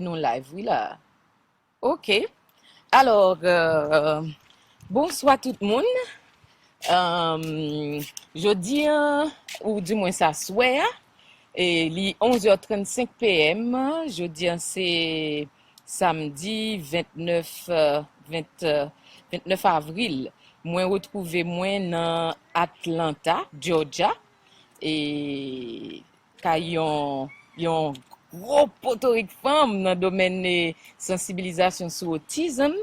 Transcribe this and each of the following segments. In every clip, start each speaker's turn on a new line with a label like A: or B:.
A: Nou live wi la ok alors bonswa tout moun jodi an ou di mwen sa swè a e li 11 heures 35 PM jodi an se samedi 29 29 avril mwen retrouve mwen nan Atlanta Georgia e ka yon yon gwo potorik fanm nan domèn sansibilizasyon sou otizm.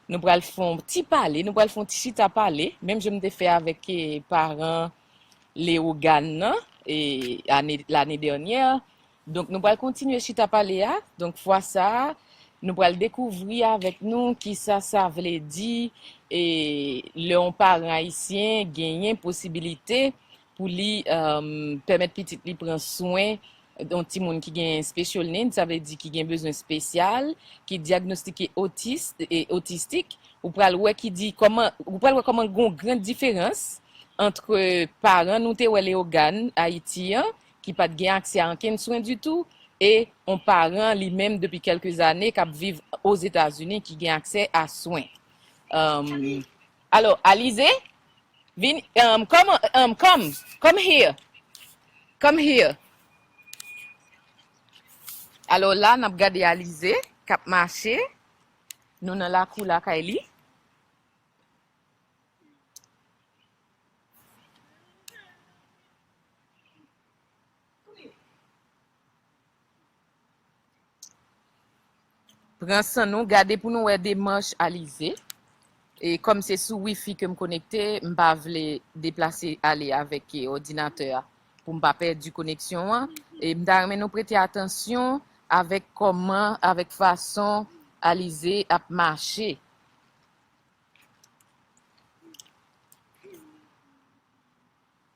A: Nou pral fè yon ti pale, nou pral fè yon ti chita pale, menm jan m te fè avèk paran Leogane nan e ane lane dènyè. Donk nou pral kontinye chita pale a, donk fwa sa a nou pral dekouvri avèk nou kisa sa vle di e lè yon paran ayisyen genyen posibilite pou li pèmèt pitit li pran swen yon timoun ki gen special need, sa vle di ki gen bezwen spesyal, ki dyagnostike otis, autistic, ou pral wè ki di kòman, ou pral wè kòman gon grand diferans antre paran nou te wè Léogâne, Ayiti an, ki pat gen aksè a ankenn swen ditou, e yon paran li menm depi kèlke zane kap viv Ozetazini ki gen aksè a swen. Alo Alize vini um come um come come here come here Alo la nap gade Alize kap mache nou nan lakou lakay li. Pran san nou, gade pou nou wè demach Alize. E kòm se sou wifi ke m konekte, m pa vle deplase ale avèk òdinatè a pou m pa pèdi koneksyon an. E m ta renmen nou prete atansyon avèk kòman, avèk fason Alize ap mache.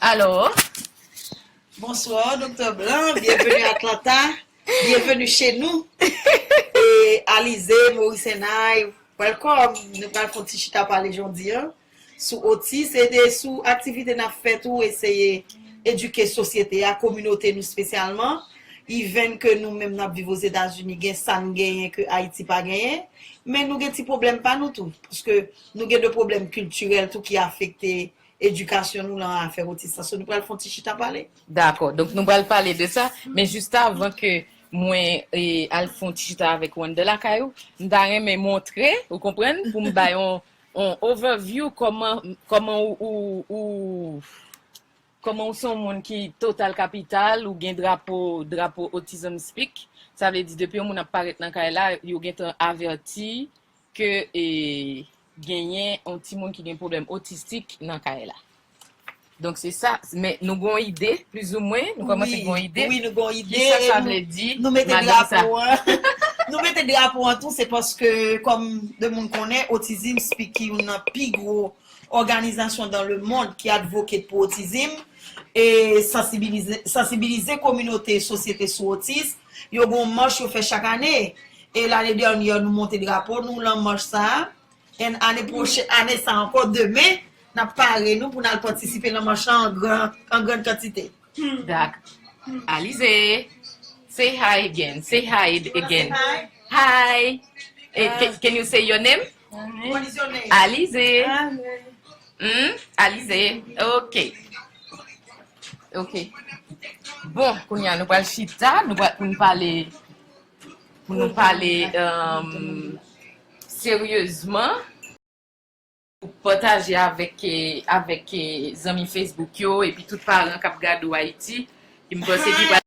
A: Allo.
B: Bonsoir Doktè Blanc, bienvenue à Atlanta, bienvenue chez nous e Alizé, Maurice and I, welcome, nou pral fon ti chita pale jondi an sou otis e de sou aktivite nap fè tou eseye edike sosyete a, kominote nou spesyalman, even ke nou menm nap viv Ozetazini gen sa nou genyen ke Ayiti pa genyen, men nou gen ti pwoblèm pa nou tou, pske nou gen de pwoblèm kiltirèl tou ki afekte edikasyon nou lan afè otis la. So nou pral fè yon ti chita pale? Dakò. Donk nou pral
A: pale de sa, men jistavan ke mwen al fè yon ti chita avèk ou anndan lakay ou, m ta renmen montre, ou konprann, pou m bay yon overview kòman, kòman ou, ou, kòman ou se yon moun ki total kapital, ou gen drapo, drapo Autism Speak, sa vle di depi yon moun ap parèt nan kay la, yo gentan avèti. ke genyen yon timoun ki gen pwoblèm otistik nan kay la. Donk se sa, men nou gen yon ide, plizoumwen, nou kòmanse gen yon ide, ki sa sa
B: vle di,
A: madan sa.
B: Nou mete drapo an tou, se paske, kòm de moun konnen, Otizim Speak ki youn nan pi gwo òganizasyon dan le mond ki advocate pou otizim, e sansibilize kominote sosyete sou otis, Yo gen yon mach yo fè chak ane. E lane dènyè nou monte drapo nou lan mach sa a. And ane pwochen, ane sa ankò demen n ap pare nou pou n al patisipe lan mach lan an gran, an grann kantite. Dak.
A: Alize, Say hi again, say hi again. Hi! Can you say your name?
B: Amen. Alize. Amen.
A: Hmm? Alize. Ok. Ok. Bon, koun ya nou pral chita, nou pral pou nou pale, pou nou pale um, seryezman, pou pataje avèk, avèk zanmi Facebook yo, epi tout paran kap gade ou Ayiti, ki m panse ki pral.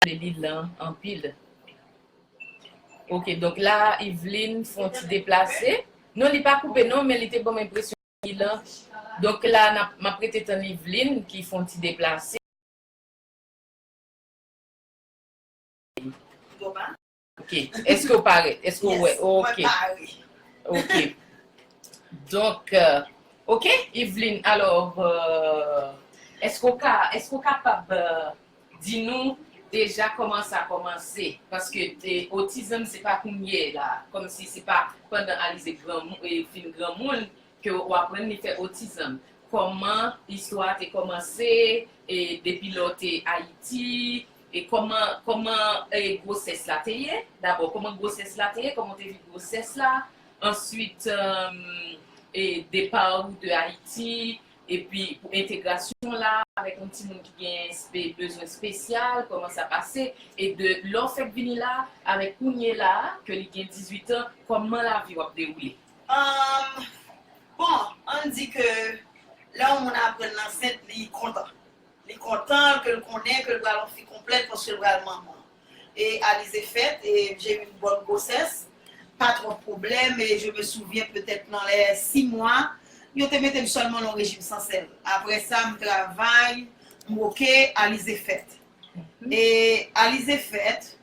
A: renmen li lan anpil. Ok donk la Yveline fon ti deplase. Non li pa koupe non men li te banm enpresyon li lan. Donk la map rete tann Yveline ki fon ti deplase. Ok, eske ou pare? Eske ou wè? Yes, mwen pare. Ok. Donk, ok, Evelyne, alò, eske ou ka, eske ou kapab di nou deja kòman sa kòmanse? Paske te otizm se pa kounye la, kòm si se pa pandan Alize granmou, fin granmoun, ke ou aprann li fè otizanm kòman istwa a te kòmanse e depi lè ou te ayiti e kòman kòman e gwosès la te ye dabò kòman gwosès la te ye kòman ou te viv gwosès la answit e depa ou de ayiti epi pou entegrasyon ou la avèk yon timoun ki gen espe bezwen espesyal kòman sa pase e de lè ou fèk vini la avèk kounye la ke li gen 18 an kòman lavi ou ap dewoule. Humm
B: bon ann di ke lè yon moun aprann l ansent li kontan li kontan ke l konnen ke l pral yon fi konplèt paske l pral manman e Alizé fèt e j'ai eu une bonne grossesse pa twòp pwoblèm e je me souviens petèt nan lè 6 mwa yo te mete m sèlman nan yon rejim san sèl aprè sa m travay m oke Alizé fèt e Alizé fèt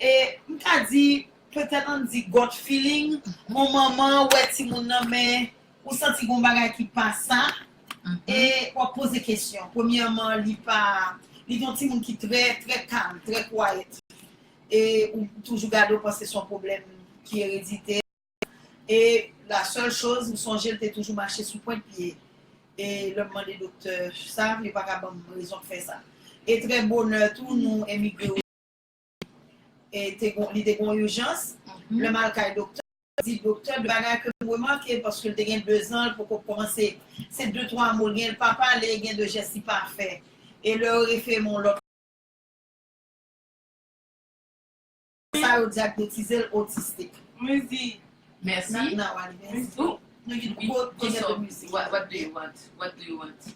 B: e m ka di Petèt ann di got feeling, mon manman wè timoun nan men ou santi gon bagay ki pa sa e wap poze kesyon. Premyèman li pa, li gen yon timoun ki trè, trè kalm, trè quiet e ou toujou gade ou panse son pwoblèm ki eredite e la sèl choz m sonje l te toujou mache sou pwent pye e lè m mande doktè sa, yo pa ka banm rezon k fè sa e trè bonè tou nou emigre o. li te gen yon ijans, lè m al kay doktè, m di doktè 2 bagay ke m remake, paske l te gen 2 zan, l poko k kòmanse, se de twa mo l gen, l pa pale, gen de jès li pa fè. E lè yo refere m yon lòt. Sa yo dyagnotize l otistik. Mwen di, mèsi. Nan wali mèsi. Mwen di, oh, mwen di,
A: what do you want?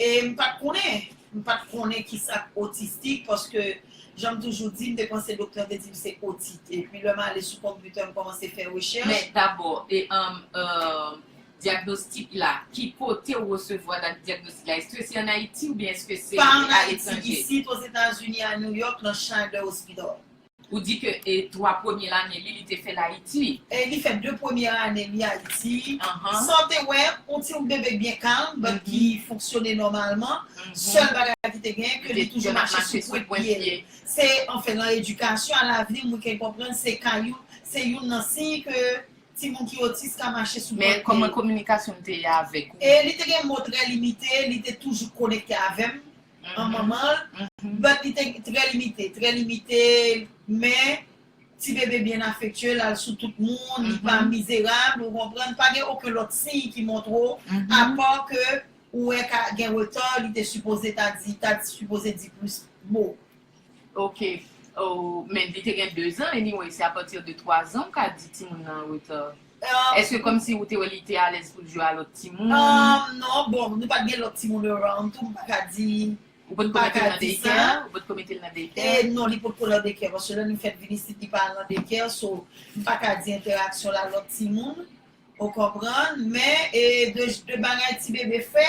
B: E m pa t konnen. M pa t konnen ki sa k otistik paske jan m toujou di m te panse doktè an te di m se otit. Epi lè m ale sou konpitè m kòmanse fè rechèch. Men dabò,
A: dyagnostik la, ki kote ou resevwa dyagnostik la? Èske se an Ayiti oubyen èske se aletranje? Pa an Ayiti,
B: isit
A: Ozetazini
B: a New York nan Schneider Hospital. Ou di ke
A: e 3 premye lane li li te fèl Ayiti. E li fè 2 premye
B: ane li Ayiti. San w te wè, on ti bebe k byen kalm, but ki fonksyone nòmalman. Sèl bagay ki te gen, ke li toujou mache sou pwent pye l. Se, anfen, lan edikasyon alavni, mwen ke konprann se ka youn, se youn lan siy ke timoun ki otis ka mache sou pwent pye l. Men, kòman kominikasyon
A: l te ye avèk ou? E li te gen mo trè
B: limite, li te toujou konekte avè m, an manman l, but li te trè limite, trè limite men ti bebe byen afektye, l al sou tout moun, li pa mizerab, ou konprann, pa gen oken lòt siy ki montre w, apa ke ou wè ka gen retard, li te sipoze ta di, ta sipoze di plis mo. Ok
A: oh men li te gen 2 zan anyway se a partir de 3 zan ou ka di timoun nan an reta eske komsi ou te wè li te alèz poul jwe a lòt timoun? Umm non bon
B: nou pat gen lòt timoun around tou m paka di Ou pot ko metel nan
A: daycare? Ou pot ko metel nan daycare? E non li pot ko lan daycare
B: paske lè nou fèt vin isit li pa al nan daycare so m paka di entèraksyon l a lòt timoun Ou konprann? Men, e, de, de bagay ti bebe fè,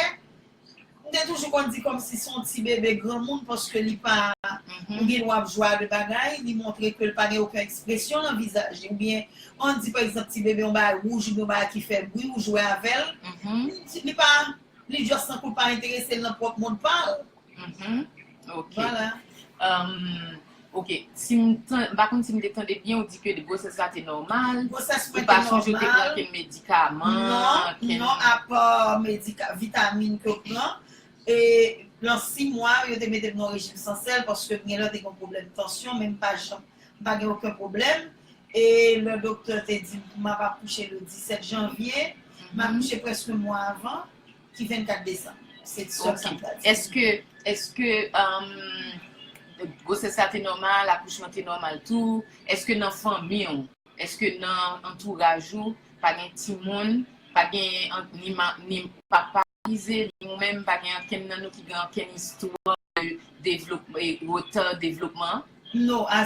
B: m te toujou konn di kòmsi se yon ti bebe granmoun paske li pa, ou gen dwa ap jwe a de bagay, li montre ke l pa gen oken ekspresyon nan vizaj li oubyen an di pa egzanp ti bebe yon bagay wouj oubyen yon bagay ki fè bri ou jwe avè l, li pa, li just tankou l pa enterese l nan pwòp mond pa l.
C: Mph ok ok mpa konn si mte tande byen ou di ke gwosès la te nòmal ou pa sonje
B: ou te pran
C: ken medikaman non non apa
B: medikaman vitamin ke ou pran e nan 6 mwa yo te metem nan rejim san sèl paske m genlè te gen pwoblèm tansyon men mpa janm mpa gen oken pwoblèm e lè doktè te dim map akouche le 17 janvye m akouche prèske mwa avan Ki 24 desanm. Se ti sèm sa m ta di. Eske, eske
C: gwosès la te nòmal, akouchman te nòmal tou? Eske nan fanmi w, eske nan antouraj ou pa gen timoun, pa genyen ni papa ize, ni ou menm pa gen ankenn nan nou ki gen ankenn istwa de devlopman, retard devlopman? Non, a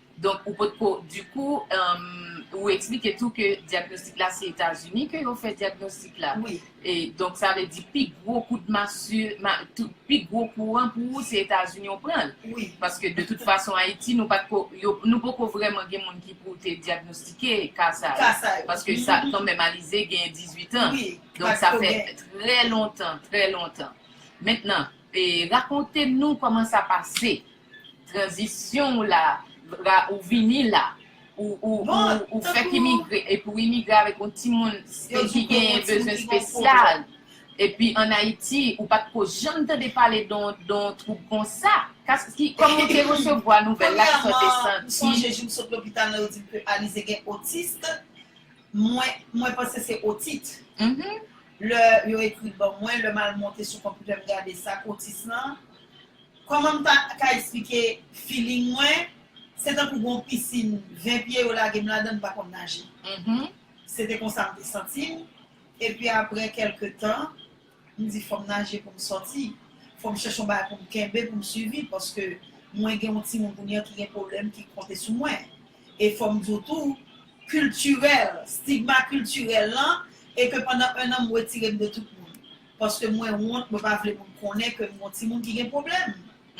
C: Donk ou pot ko, di kou ou eksplike tou ke dyagnostik la se Etazini ke yo fè dyagnostik la. Wi. E donk sa
B: vle
C: di pi gwo kout masu, pi gwo kou an pou ou se Etazini ou pran l. Wi. Paske de tout
B: fason
C: Ayiti nou pat ko, nou poko vrèman gen moun ki pou te dyagnostike ka sa yo. Ka sa yo. Paske sa kan menm Alize genyen 18 an. Wi. Donk sa fè trè lontan, trè lontan. Mentnan, rakonte nou kòman sa pase. Tranzisyon ou la a, ou vini la a, ou fèk imigre, epi ou imigre avèk yon timoun ki genyen bezwen spesyal, epi an Ayiti ou pa t ko janm tande pale de yon twoub konsa, kòman ou te resevwa nouvèl la, kisa w te santi? Premyèman, sonje jou m sot
B: lopital la yo di m ke Alizé gen otist, mwen panse se otit. Lè yo ekri l ban mwen, lè m al monte sou konpitè m gade sa k otis lan, Kòman m ta ka esplike feeling mwen, se tankou gon pisin 20 pye yo lage m ladan m pa konn naje. Se te konsa m te santi m, epi aprè kèlke tan, m di fò m naje pou m sòti, fò m chèche yon bagay pou m kenbe pou m siviv paske mwen gen yon timoun kounye a ki gen pwoblèm ki konte sou mwen. E fò m di w tou, kiltirèl, stigma kiltirèl lan e ke pandan ennan m wetire m de tout moun. paske mwen wont mwen pa vle moun konnen kem gon timoun ki gen pwoblèm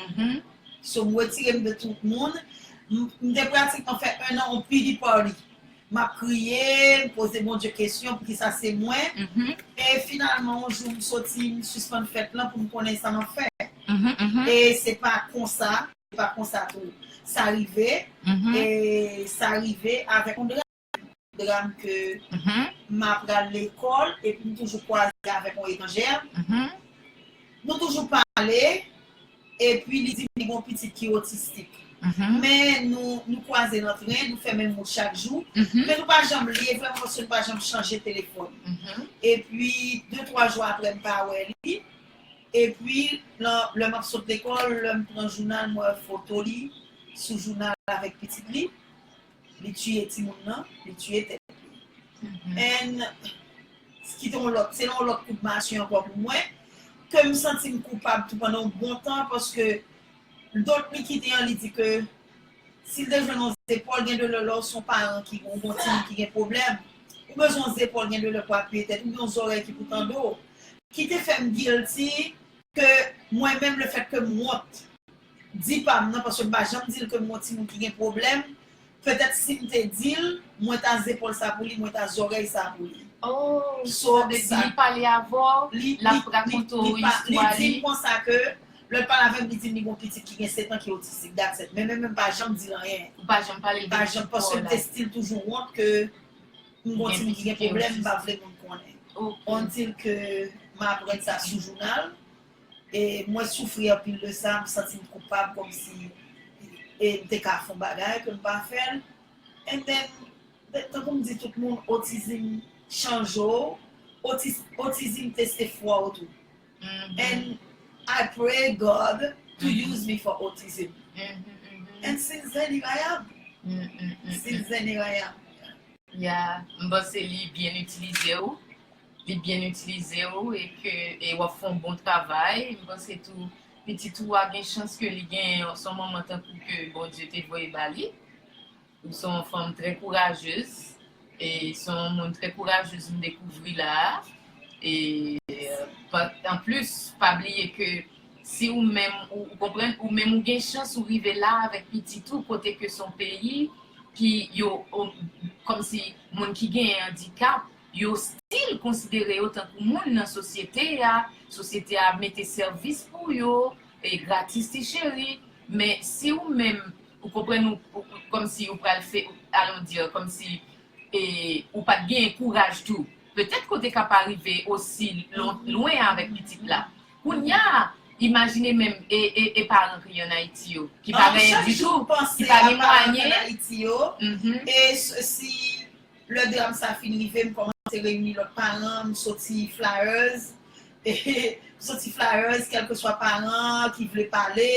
B: mph so m retirem de tout moun m te pratikman fè 1 an on pity party map kriye m poze Bondye kesyon poukisa se mwen mph e finalman on jou m soti m sispann fèt lan poum konnen sa map fè mph e se pa konsa se pa konsa tou sa rive mph e sa rive avèk on dram. dram ke m ap pral lekòl epi m toujou kwaze avèk yon etranjè. Nou toujou pale epi li di m li gen yon pitit ki otistik. Men nou kwaze nan tren, nou fè menm wout chak jou. Men nou pa janm li e vrèman paske nou pa janm chanje telefòn. Epi de twa jou aprè m pa wè li. Epi lè m ap sot lekòl, lè m pran jounal m wè foto li sou jounal avèk pitit li. Li tuye timoun nan, li tuye tèt li. And ki te yon lòt, se yon lòt kout mache ankò pou mwen, ke m santi m koupab tou pandan yon bon tan paske dot li kite an li di ke si l te jwenn yon zepòl gen de lè lè w se yon paran ki gen yon timoun ki gen pwoblèm, ou bezwen yon zepòl gen de lè pou apiye tèt ou oubyen yon zòrèy ki pou tande w. Ki te fè m guilty ke mwen menm le fèt ke m wont di pam nan paske m pa janm dil ke m gon timoun ki gen pwoblèm, petèt sim te dil mwen ta zepòl sa pou li mwen ta zòrèy sa pou li. Oh sa
C: vle di li pale avèw lap rakonte w istwa li. Li dim konsa ke
B: lèl pale avèm li dim li gon pitit ki gen 7 an ki otistik that's it men menm m pa janm dil anyen. Ou pa janm pale l de pitit
C: paw la. Paske m te
B: stil toujou wont ke m gon timoun ki gen pwoblèm m pa vle moun konnen. Until ke m aprann sa sou jounal E mwen soufri anpil de sa, m santi m koupab kòmsi e m te ka fè yon bagay ke m pa fè l. And then, tankou m di tout moun, otizim chanje w, otizim teste fwa w tou. And I pray God to use me for autism. And since then here I am. Since then here I am. Yeah,
C: m panse li byen itilize w. li byen itilize w e ke e wap fè yon bon travay, m panse tou pitit ou a gen chans ke li gen yon son manman tankou ke Bondye te voye ba li, ou se yon fanm trè kourajez e se yon moun trè kourajez m dekouvri la a e anplis pa bliye ke si ou menm ou konprann ou menm ou gen chans ou rive la avèk pitit ou kote ke se yon peyi ki yo kòmsi moun ki gen andikap Yo stil konsidere yo tankou moun nan sosyete a, sosyete a ap mete sèvis pou yo e gratis ti cheri, men si ou menm ou konprann ou kòmsi ou pral fè allons dire kòmsi e ou pat genyen kouraj tou petèt ke w te ka pa rive osi lwen avèk pitit la. Kounya imajine menm e e e paran ki an Ayiti yo ki pa genyen ditou, ki pa gen mwayen. An chak jou panse a paran ki an Ayiti yo
B: e si Lè dram sa fin rive, m kòmanse reyini lòt paran, m soti flyers, m soti flyers kèlkeswa paran an ki vle pale,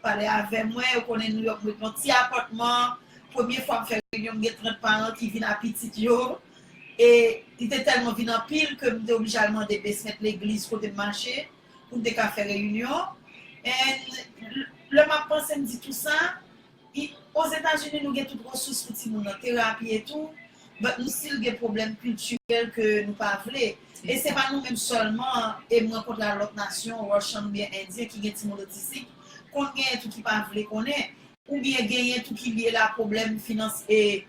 B: pale avè mwen, yo konnen Nouyòk m ret nan ti apatman, premye fwa m fè reyinyon m gen 30 paran ki vin a pitit yo, e li te tèlman vin anpil ke m te oblije al mande besment legliz kote m mache pou m te ka fè reyinyon, and lè m ap panse m di tou sa. I Ozetazini nou gen tout resous pou timoun nan, terapi e tou, but nou still gen pwoblèm kiltirèl ke nou pa vle. E se pa nou menm sèlman e m rankontre a lòt nasyon, Russian oubyen Indien ki gen timoun otistik, konn genyen tou ki pa vle konnen, oubyen genyen tou ki lye la pwoblèm finans e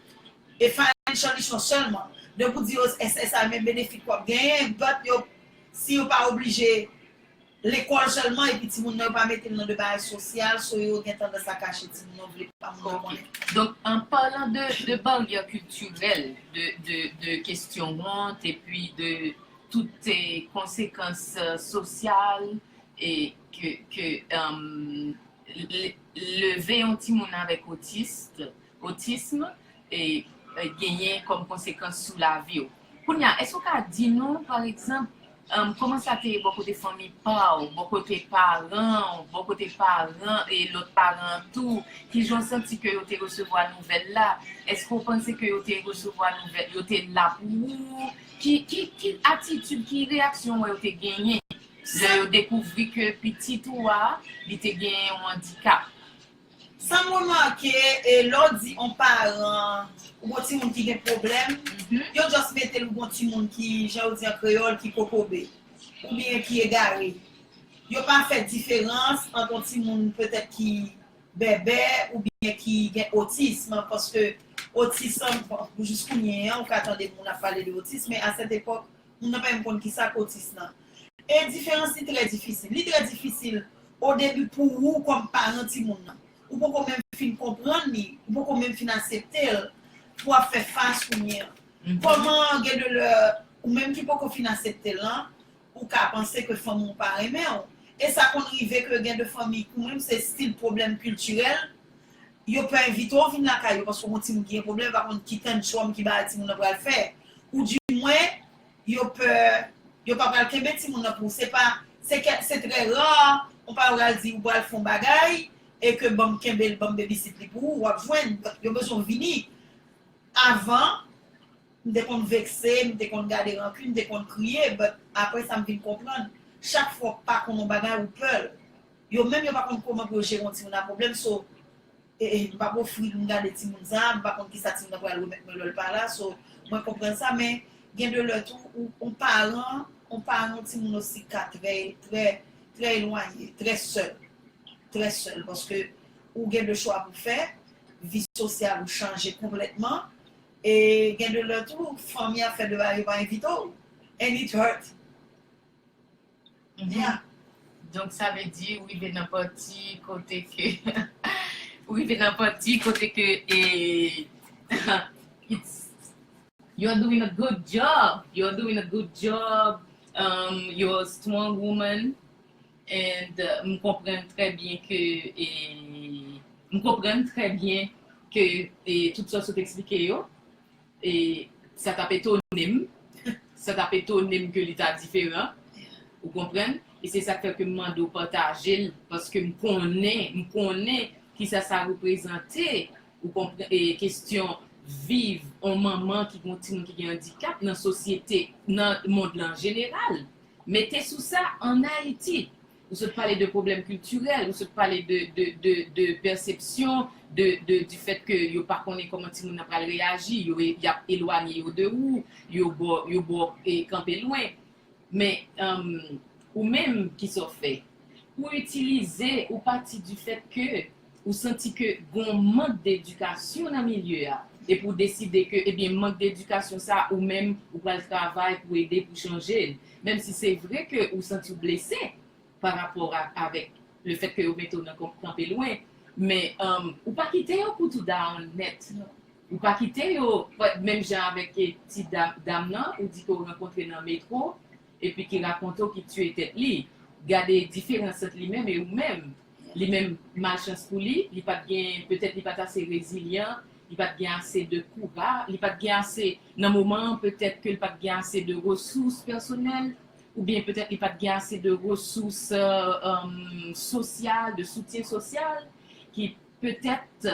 B: e financial issue an sèlman. Depi w di yo SSI men benefit wap genyen, but yo si yo pa oblije. Lekòl sèlman epi timoun nan yo pa mete l nan de bagay sosyal so yo gen tandans a kache timoun yo vle pa moun nan konnen. Ok. Donk an
C: parlant de de barrière culturelle de de de kesyon wont epi de tout konsekans sosyal e ke ke leve yon timoun avèk otiste Otism genyen kòm konsekans sou lavi w. Kounye a, èske ou ka di nou, pa egzanp, kòman sa te ye bò kote fanmi pa w, bò kote paran w, bò kote paran e lòt paran an tou? Ki jan w santi ke yo te resevwa nouvèl la? Èske ou panse ke yo te resevwa nouvèl, yo te la pou ou? Ki atitid, ki reyaksyon ou wè yo te genyen lè yo dekouvri ke pitit ou a, li te gen yon andikap? Sam
B: remake e lè w di on paran ou gon timoun ki gen pwoblèm, yo just mete l ou gon timoun ki jan yo di an kreyòl ki kokobe oubyen ki egare. Yo pa fè diferans ant on timoun petèt ki bèbè oubyen ki gen otism paske otism jiskounye an ou ka tande moun ap pale de otism men a sèt epòk Moun nan pa menm konn kisa k otis nan. E diferans li trè difisil. Li trè difisil odebi pou ou kòm paran timoun nan. Ou poko menm fin konprann li, ou poko menm fin asepte l, pou ap fè fas kounye an. Kòman gen de lè, ou menm ki poko fin asepte l lan, ou ka panse ke fanmi w pa renmen w. E sa konn rive ke gen de fanmi pou menm se stil pwoblèm kiltirèl, Yo pè envite w vin lakay yo paske w gon timoun ki gen pwoblèm, yo pa konn ki tantchòm, ki bagay timoun nan pral fè. Ou dimwen, yo pè yo pa pral kenbe timoun nan pou ou. Se pa, se kè, se trè ra, yon paran pral di ou pral fè yon bagay e ke ban m kenbe l, ban m babysit li pou ou, w ap jwenn. Yo bezwen w vini avan. M te konn vekse, m te konn gade ranki, m te konn kriye but aprè sa m vin konprann chak fwa w pa konn yon bagay ou pè l. Yo menm yo pa konn kouman pou yo jere yon timoun a pwoblèm so m pa p ofri l m gade timoun sa a m pa konn kisa timoun nan pral remèt mwen lè l pa la so mwen konprann sa men gen de lè tou ou yon paran yon paran yon timoun osi ka trè trè trè elwanye trè sèl trè sèl paske ou gen de chwa pou fè vi sosyal ou chanje konplètman E gen de lè tou fanmi ap fè deba yo pa envite w and it hurt yeah. Donk sa vle
C: di ou rive nan pati kote ke ou rive nan pati kote ke it's. You're doing a good job, you're doing a good job, um you're a strong woman. And m konprann trè byen ke e m konprann trè byen ke e tout sa w sot eksplike yo e sa t ap etone m sa t ap etone m ke li ta diferan ou konprann e se sa k fè ke m mande w pataje l paske m konnen m konnen kisa sa reprezante ou konprann e kesyon viv on manman ki gen on timoun ki gen andikap nan sosyete nan mond la an jeneral Mete sou sa, an Ayiti, ou sot pale de pwoblèm kiltirèl, ou sot pale de pèsepsyon, di fèt ke yo pa konnen kòman timoun nan pral reyaji, y ap elwanye yo de ou, yo ba w kanpe lwen. Men, ou menm, kisa w fè? Ou itilize, ou pati di fèt ke. Ou santi ke gon mank d'edikasyon nan milye a, epi ou deside ke ebyen mank d'edikasyon sa ou menm ou pral travay pou ede pou chanje l, menm si se vre ke ou santi w blese pa rapò ak avèk le fèt ke yo mete w nan kanpe lwen, men ou pa kite yo pou tou down nèt non. Ou pa kite yo menm jan avèk ti dam lan ou di ke w rankontre nan metro epi ki rakonte w ki tiye tèt li, gade diferans ant li menm e ou menm. Li menm, malchans pou li, li pa t gen, petèt li pa t ase rezilyan, li pa t gen ase de koura, li pa t gen ase, nan moman an, petèt ke l pa t gen ase de resous pèsonèl, oubyen petèt li pa t gen ase de resous sosyal, de soutyen sosyal, ki petèt,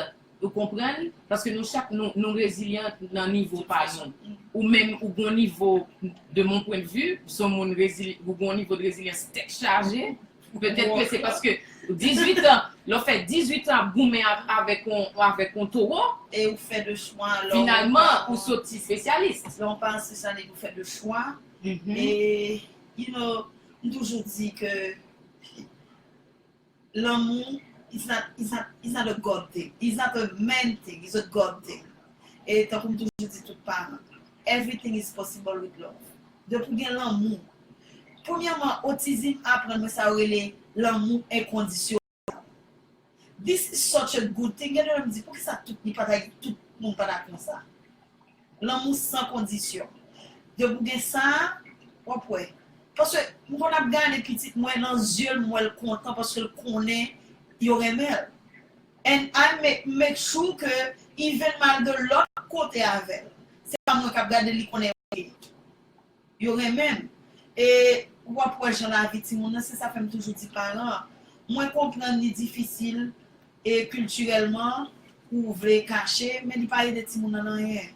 C: ou konprann, paske nou chak nou, nou rezilyan nan nivo pa nou. Ou menm, ou gon nivo, de mon pwen de vi, son moun rezil, ou gon nivo de rezilyans tèt chaje. Petèt ke se paske 18 an, lè w fè 18 an ap goumen avèk yon avèk yon towo. E ou fè de
B: chwa lè w. Finalman ou
C: soti spesyalis. Lè w pa ansye sa nèg
B: yo fè de chwa. E you know m toujou di ke lanmou is not is not is not a God thing, is not a man thing, is a God thing. E tankou m toujou di tout paran, everything is possible with love. Depi w gen lanmou Premyèman, otizim aprann mwen sa yo rele lanmou enkondisyonèl. This is such a good thing, gen de lè m di poukisa tout ni pa ta gen tout moun pa ta konsa. Lanmou san kondisyon. Depi w gen sa, w ap wè. Paske m konn ap gade pitit mwen nan zye l m wè l kontan paske l konnen yo renmen l. And I make make sure ke even malgre lòt kote avè l, se pa mwen k ap gade l li konnen ok. Yo renmen m. E w ap wè jan lavi timoun nan, se sa fè m toujou di paran an, mwen konprann li difisil e kiltirèlman pou w vle kache, men li pa ede timoun nan anyen.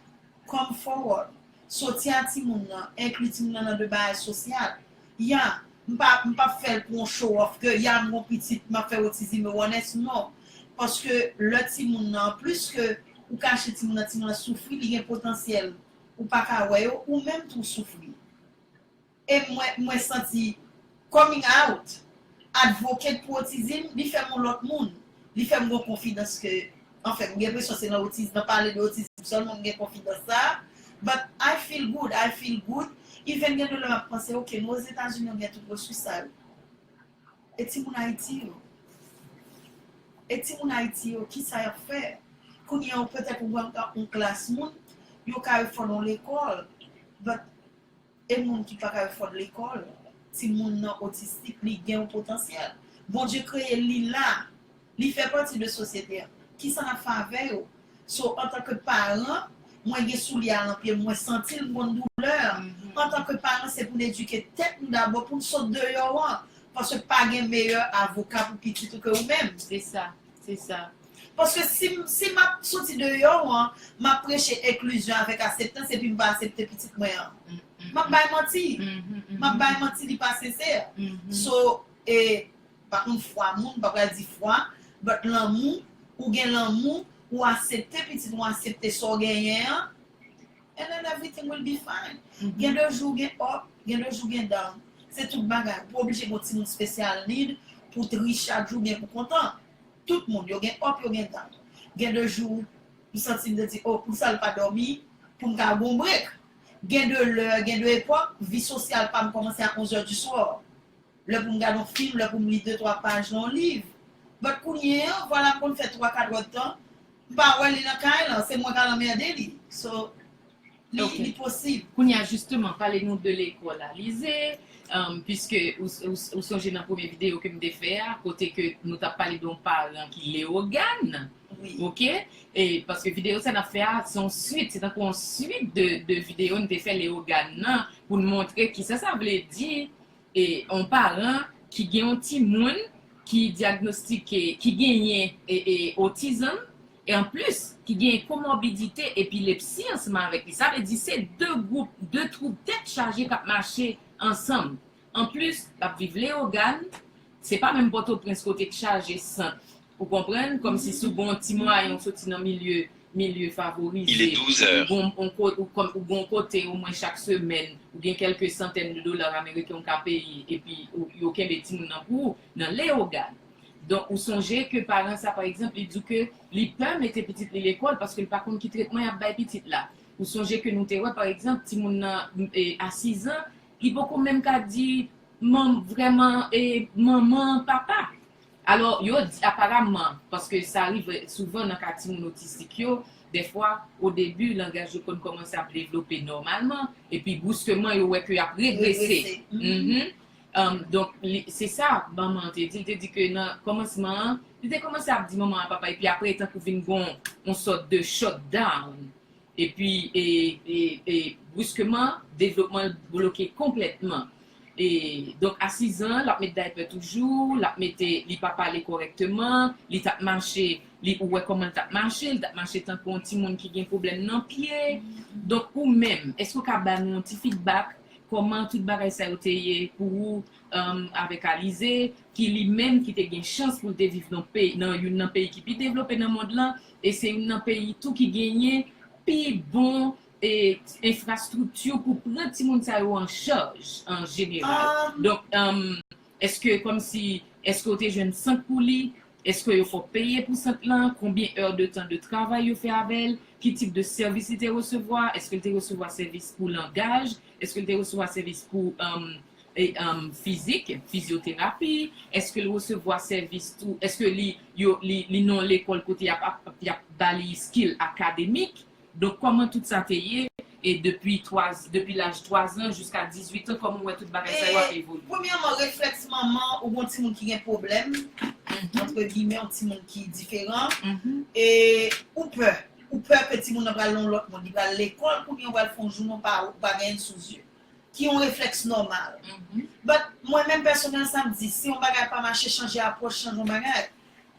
B: Come forward. Soti a timoun nan, enkli timoun nan nan de bagay sosyal. Ya, m pa m pa p fè l pou on show off ke ya m gon pitit m ap fè otizim e wònès, non. Paske lè timoun nan, pliske ou kache timoun nan, timoun nan soufri, li gen potansyèl ou paka wè yo ou menm tou w soufri e mwen mwen santi coming out advocate pou otizim li fèm on lòt moun li fèm gon konfidans ke anfen m gen presyon se nan otiz nan pale de otizim sèlman m gen konfidans sa but I feel good I feel good even gen de lè map panse ok nou ozetazini nou gen tout resous sa yo. E ti moun Ayiti yo? E ti moun Ayiti yo ki sa yap fè? Kounye an petèt ou wè m tankou yon klas moun, yon kalfòn yon lekòl, but e moun ki pa kalfòn lekòl? Ti moun nan otistik, li gen yon potansyèl. Bondye kreye l, li la. Li fè pati de sosyete an. Kisa n ap fè avè yo? So, antanke paran, mwen gen soulye a lan pye m, mwen santi l, m konn doulè an. Antanke paran, se pou n edike tèt nou dabò pou n sot deyò an. Paske pa gen meyè avoka pou pitit ou ke ou menm. Se sa. Se
C: sa.
B: Paske si m si m ap soti deyò an, m ap preche enklizyon avèk aseptans epi m pa asepte pitit mwen an. M ap bay manti. M ap bay manti li pa sensè. So, e, Pa konn fwa moun, pa pral di fwa, but lanmou, ou gen lanmou, ou asepte pitit ou asepte sa w genyen an, and then everything will be fine. Gen de jou gen up, gen de jou gen down. Se tout bagay. Ou pa oblije gen yon timoun special need pou w triste chak jou oubyen pou w kontan. Tout moun, yo gen up, yo gen down. Gen de jou m santi m te di oh poukisa l pa dòmi pou m ka gen yon break. Gen de lè, gen de epòk, vi sosyal pa m kòmanse a 11 heures du soir. Lè pou m gad on fim, lè pou m li de twa paj nan on liv. But kounye an, vwala m konn fè twa katwèdtan, m pa wè li nan kay lan, se mwen k al anmède li. So, li posib. Kounye a jisteman,
C: pale nou de lekòl Alize, piske ou sonje nan premye videyo ke m te fè a, kote ke nou t ap pale de on paran ki Lewogàn, ok, e paske videyo sa n ap fè a, se on suit, se tankou on suit de videyo n te fè Lewogàn nan, pou n montre kisa sa vle di, Yon paran ki gen yon timoun ki dyagnostike ki genyen otizm, e an plis ki genyen komorbidite epilepsi ansanm avèk li, sa vle di se 2 gwoup, 2 twoub tèt chaje k ap mache ansanm. An plis, l ap viv Leyogàn, se pa menm Pòtoprens kote k chaje sant Ou konprann, kòm si si w gen yon ti mwayen ou soti nan milye, milye favorize, ou
D: gen yon kote, ou gen yon
C: kote omwen chak semèn ou gen kèlke santèn de dola ameriken ou ka peye epi yo kenbe timoun nan pou ou nan Leyogàn. Donk ou sonje ke paran sa pa egzanp li di w ke li pè mete pitit li lekòl paske li pa konn ki tretman y ap bay pitit la. Ou sonje ke nou te wè pa egzanp timoun nan a sizan li poko menm ka di manm vrèman manman, papa. Alò, yo di aparamman, paske sa rive souvan nan ka timoun otistik yo, dèfwa, odebi, langaj yo konn kòmanse ap devlope nòmalman, epi bruskeman yo wè ke y ap regrese. Donk, se sa manman an te di, li te di ke nan kòmansman an, li te kòmanse ap di manman a papa, epi apre e tankou vin gon yon sòt de shut down, epi bruskeman devlopman l bloke konplètman. E donk a 6 zan lap met daypè toujou, lap mete li pa pale kòrèkteman, li tap mache li ou wè kòman li tap mache, li tap mache tankou yon timoun ki gen pwoblèm nan pye. Donk ou menm, èske ou ka ba nou yon ti fidbak kòman tout bagay sa yo te ye pou ou avèk Alize ki li menm ki te gen chans pou l te viv nan youn nan peyi ki pi devlope nan mond lan e se youn nan peyi tou ki genyen pi bon enfrastrikti pou pran timoun sa yo an chaj an jeneral donk eske kòmsi eske yo te jwenn sant pou li eske yo fòk peye pou sant lan konbyen èr de tan de travay yo fè avèl ki tip de sèvis li te resevwa eske li te resevwa sèvis pou langaj eske li te resevwa sèvis pou fizik fizyoterapi eske li resevwa sèvis tou eske li yo li nan lekòl kote yap bali skill akademik. Donk kòman tout sa te ye e depi 3 depi laj 3 zan jiska 18 an kòman ou wè tout bagay sa yo ap evolye? Premyèman reflèks
B: manman ou gen yon timoun ki gen pwoblèm antre gimè yon timoun ki diferan e ou pè ou pè ke timoun nan pral nan yon lòt mond li pral lekòl kounye ou pral fè yon jounen ou pa ou pa genyen sou zye ki yon reflèks nòmal but mwen menm pèsonèl sa m di si yon bagay pa mache chanje apwòch chanj yon bagay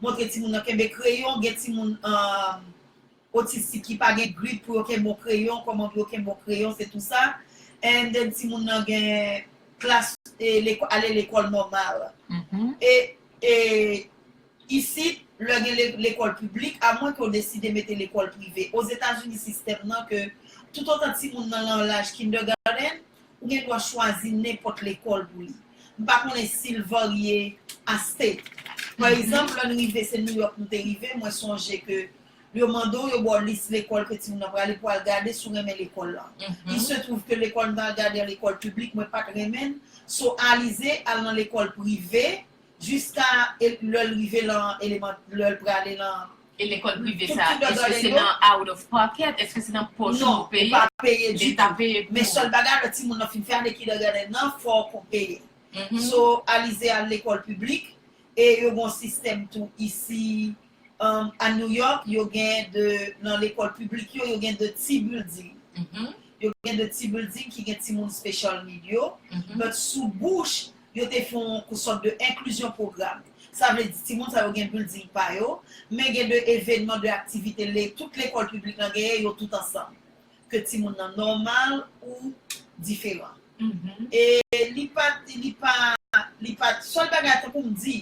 C: Montre timoun
B: nan kenbe kreyon, gen timoun otistik ki pa gen grip pou yo kenbe yon kreyon, kòman pou yo kenbe yon kreyon se tou sa. And then timoun nan gen klas ale lekòl nòmal. E isit lè gen lekòl piblik a mwen ke ou deside mete lekòl prive. Ozetazini sistèm nan ke tout otan timoun nan lan laj kindergarten, Ou gen dwa chwazi nenpòt lekòl pou li. M pa konnen si l varye a state. Pa egzanp, lè n rive, se New York nou te rive, mwen sonje ke yo mande w, yo ba w lis lekòl ke timoun nan prale pou al gade si w renmen lekòl la. Il se trouve ke lekòl m t al gade an lekòl piblik, mwen pa t renmen l. So, Alize al nan lekòl prive jiska lè l rive lan eleman, lè l prale lan E lekòl prive sa
C: a, èske se nan out of pocket, èske se nan pòch ou pou peye? Non, ou pa peye
B: ditou. Leta peye pou ou. Men sèl bagay, lè timoun
C: nan fin
B: fè ane kindègadenn nan, fò ou konn peye. So, Alize al lekòl piblik, e yo gen yon sistèm tou isi, a New York, yo gen de, nan lekòl piblik yo, yo gen de ti bilding. Yo gen de ti bilding ki gen timoun special need yo, but sou bouch, yo te fè yon sòt de enklizyon pwogram. Sa vle di timoun sa yo gen bilding pa yo, men gen de evenman, de aktivite le tout lekòl piblik lan genyen yo tout ansanm. Ke timoun nan nòmal ou diferan. E li pa, li pa, li pa, sèl bagay tankou m di,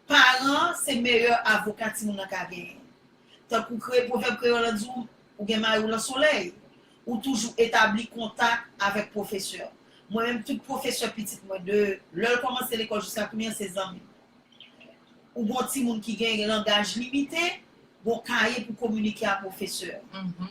B: paran an se meyè avoka timoun nan ka genyen. Tankou kre, pwovèb kreyòl lan di w, ou gen mari w lan solèy. Ou toujou etabli kontak avèk pwofesè. Mwen menm tout pwofesè pitit mwen de lè l kòmanse lekòl jiska kounye an se zanmi m. Ou gon timoun ki gen langaj limite, gon kaye pou kominike a pwofesè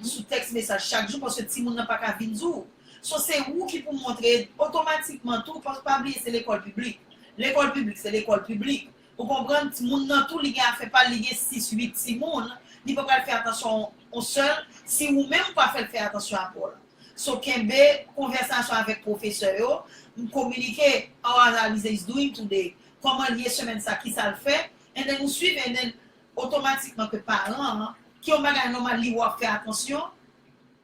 B: sou tèks mesaj chak jou paske timoun nan pa ka vin di w. So se ou ki pou montre otomatikman tou paske pa bliye se lekòl piblik. Lekòl piblik se lekòl piblik. Ou konprann timoun nan tou li gen afè pal li gen 6 8 timoun li pa pral fè atansyon on sèl si ou menm ou pa fèl fè atansyon a paw la so kenbe konvèsasyon avèk pwofesè yo m kominike how as Alize is doing today kòmanl ye semèn sa kisal fè and then ou swiv and then otomatikman ke paran an ki on bagay nòmal li wè wap fè atansyon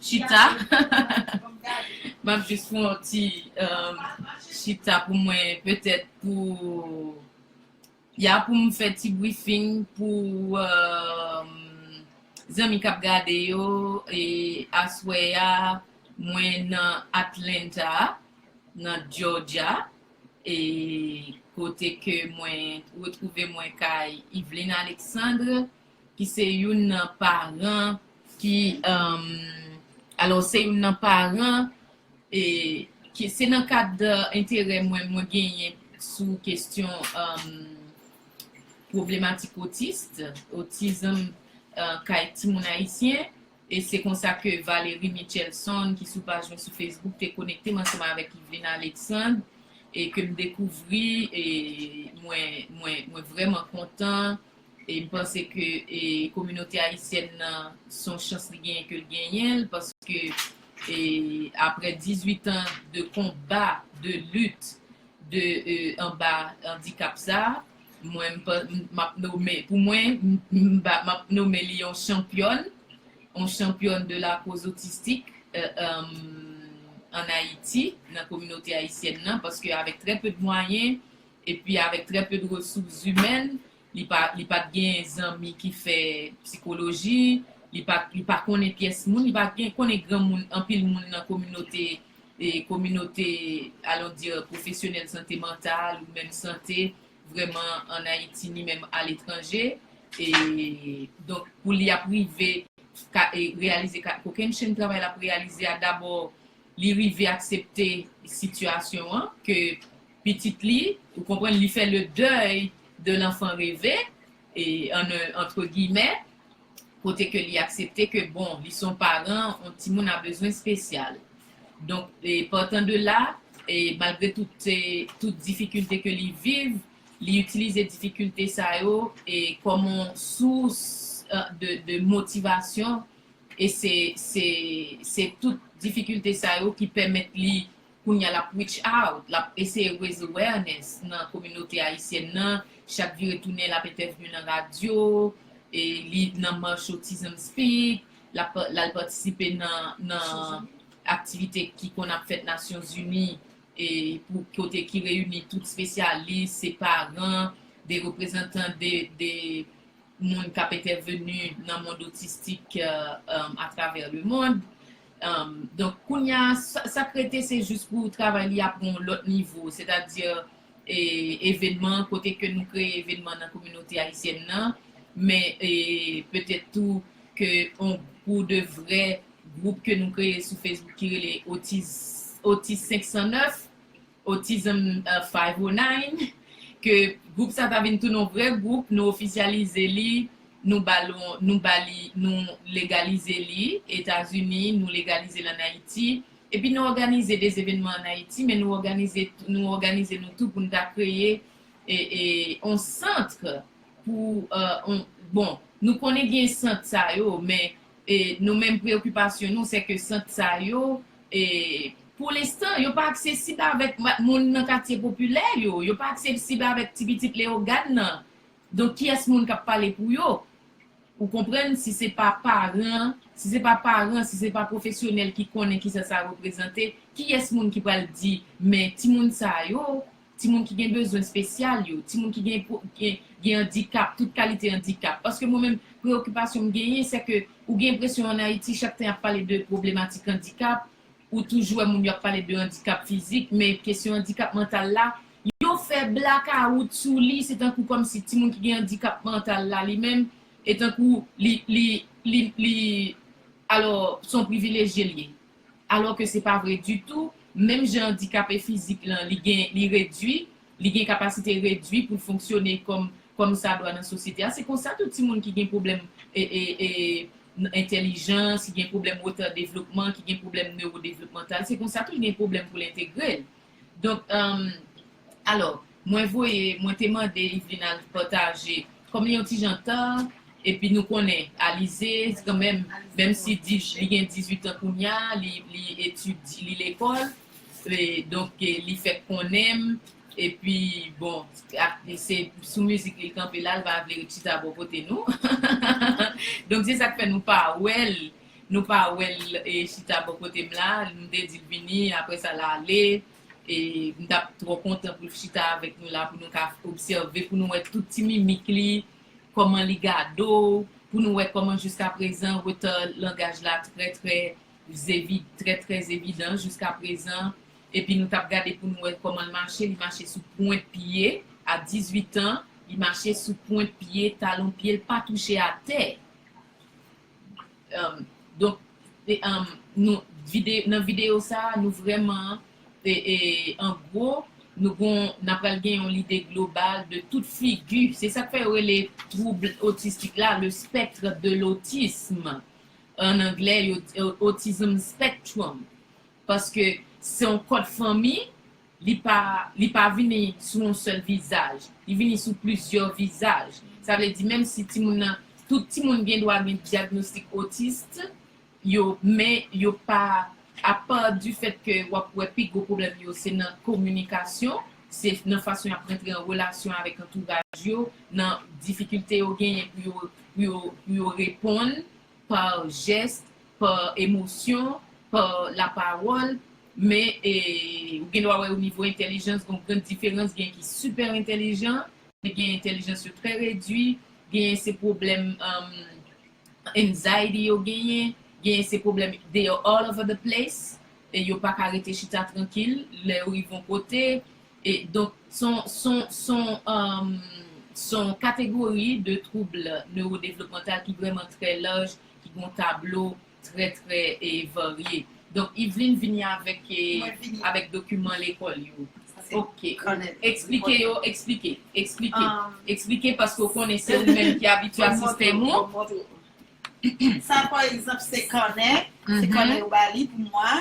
C: Chita Map jus fè yon ti chita pou mwen petèt pou ya poum fè ti briefing pou zanmi kap gade yo e aswè ya mwen nan Atlanta nan Georgia e kote ke mwen retrouve mwen kay Yveline Alexandre. ki se youn nan paran ki alò se youn nan paran e ki se nan kad enterè mwen mwen genyen sou kestyon problematik otist otizm kay timoun ayisyen e se konsa ke Valery Mitchelson ki sou paj mwen sou Facebook te konekte m ansanm avèk Yveline Alexandre e ke m dekouvri e mwen mwen mwen vrèman kontan E m panse ke kominote ayisyèn nan se yon chans li genyen ke l genyen l paske aprè 18 an de konba, de lit, de anba andikap sa a, mwen m ap nome, pou mwen, m ap nome li yon chanpyòn, yon chanpyòn de lakoz otistik ann Ayiti, nan kominote ayisyèn nan, paske avèk trè pe de mwayen, Epi avèk trè peu de ressources humaines, li pa li pat gen zanmi ki fè psikoloji, li pa li pa konnen pyès moun, li pa gen konnen gran moun anpil moun nan kominote e kominote allons dire professionnels sante mantal ou menm sante vrèman an Ayiti ni menm a letranje e donk pou li ap rive ka e reyalize ka kokenn chenn travay l ap reyalize a dabò li rive aksepte sitiyasyon an ke pitit li ou konprann li fè le dèy de l'enfant reve en un entre guillemets kote ke li aksepte ke bon li son paran on timoun a bezwen spesyal donk partant de la malgre tout difikilte ke li viv li itilize difikilte sa yo kòm on sous de motivasyon e se tout difikilte sa yo ki pèmèt li Kounya l ap reach out, l ap eseye raise awareness nan kominote ayisyèn nan, chak vire tounen l ap entèvyou nan radyo, li nan March Autism Speak, l ap l al patisipe nan aktivite ki konn ap fèt Nasyon Zini pou kote ki reyini tout spesyalis, se paran, de reprezantan de moun k ap entèveni nan mond otistik atravè lemond. Donk kounya sak rete se jis pou travay li a pran yon lòt nivo, sètadi evenman, kote ke nou kreye evenman nan kominote ayisyèn nan, men petèt tou ke yon pou de vrè gwoup ke nou kreye sou Facebook ki rele Otis 509. Autism 509, ke gwoup sa ta vin tounen yon vrè gwoup, nou ofisyalize li, nou ba l yon, nou ba li, nou legalize li, Etazini, nou legalize l an Ayiti, epi nou òganize de zevenman an Ayiti, men nou òganize, nou òganize nou tou pou n ta kreye yon centre pou yon, bon, nou konnen gen sant sa yo, men nou menm preokipasyon nou se ke sant sa yo. E pou lenstan, yo pa aksesib avèk moun nan katye popilè yo, yo pa aksesib avèk ti pitit Leyogàn nan. Donk kiyès moun k ap pale pou yo? Ou konprann si se pa paran, si se pa paran, si se pa pwofesyonèl ki konnen kisa sa reprezante, kiyès moun ki pral di men timoun sa yo, timoun ki gen bezwen spesyal yo, timoun ki gen gen andikap, tout kalite andikap. Paske mwen menm preokipasyon m genyen se ke ou gen enpresyon an Ayiti chak tan y ap pale de pwoblematik andikap, ou toujou wè moun yo ap pale de andikap fizik, men kesyon andikap mantal la, yo fè blakawout sou li, se tankou kòmsi timoun ki gen andikap mantal la li menm, e tankou li li li li alò se yon privilejye l ye. Alò ke se pa vre ditou, menm jan andikape fizik lan li gen li redui, li gen kapasite redui pou l fonksyone kòm kòm sa dwa nan sosyete a, se konsa tou timoun ki gen pwoblèm e e e n entèlijans, ki gen pwoblèm retard devlopman, ki gen pwoblèm newodevlopmantal, se konsa tou l gen pwoblèm pou l entegre l. Donk ehm alò mwen voye mwen te mande Yveline al pataje kòm li yon ti jan tan epi nou konnen Alizé kanmenm menm si di li gen 18 an kounya li li etudi li lekòl e donk li fèk konnen m epi bon ak se sou mizik li kanpe la l pa vle ret chita bò kote nou donk se sak fè nou pa wè l Nou pa wèl chita bò kotem la nou te dil vini aprè sa la ale e m tap trò kontan poul chita avèk nou la pou nou ka obsève pou nou wè tout ti mimik li kòman li gade w pou nou wè kòman jiska prezan retard langaj la trè trè trè trè evidan jiska prezan epi nou tap gade pou nou wè kòmanl mache li mache sou pwent pye a 18 ans li mache sou pwent pye talon pyel pa touche atè. Donk nan videyo sa a, nou vrèman, an gwo, n ap pral gen yon lide global de tout figi, se sa k fè yo rele twoub otistik la le spectre de l'autisme, an anglè, autism spectrum, paske se yon kòd fanmi. Li pa li pa vini sou yon sèl vizaj. Li vini sou plizyè vizaj. Sa vle di menm si timoun nan, tout timoun gen dwa gen dyagnostik otist yo men yo pa apa di fèt ke w ap wè pi gwo pwoblèm yo se nan kominikasyon, se nan fason y ap rantre an relasyon avèk antouraj yo, nan difikilte yo genyen pou yo pou yo pou yo reponn pa jès, pa emosyon, pa lapawòl, men ou gen dwa wè o nivo entèlijans gen yon gran diferans, gen ki sipè entèlijan, gen entèlijans yo trè redui, genyen se pwoblèm anxiety yo genyen, genyen se pwoblèm they are all over the place, yo pa ka rete chita trankil lè yo rive yon kote, E donk s on kategori de twoubl newodevlopmantal ki vrèman trè laj, ki gen yon tablo trè trè varye. Donk Yveline vini avèk avèk dokiman lekòl yo. Ok. Eksplike yo, eksplike. Eksplike. Eksplike paske ou konnen se ou menm ki abitye a sistèm ou.
B: Sa pa egzanp se kanè, se kanè yo ba li pou mwa.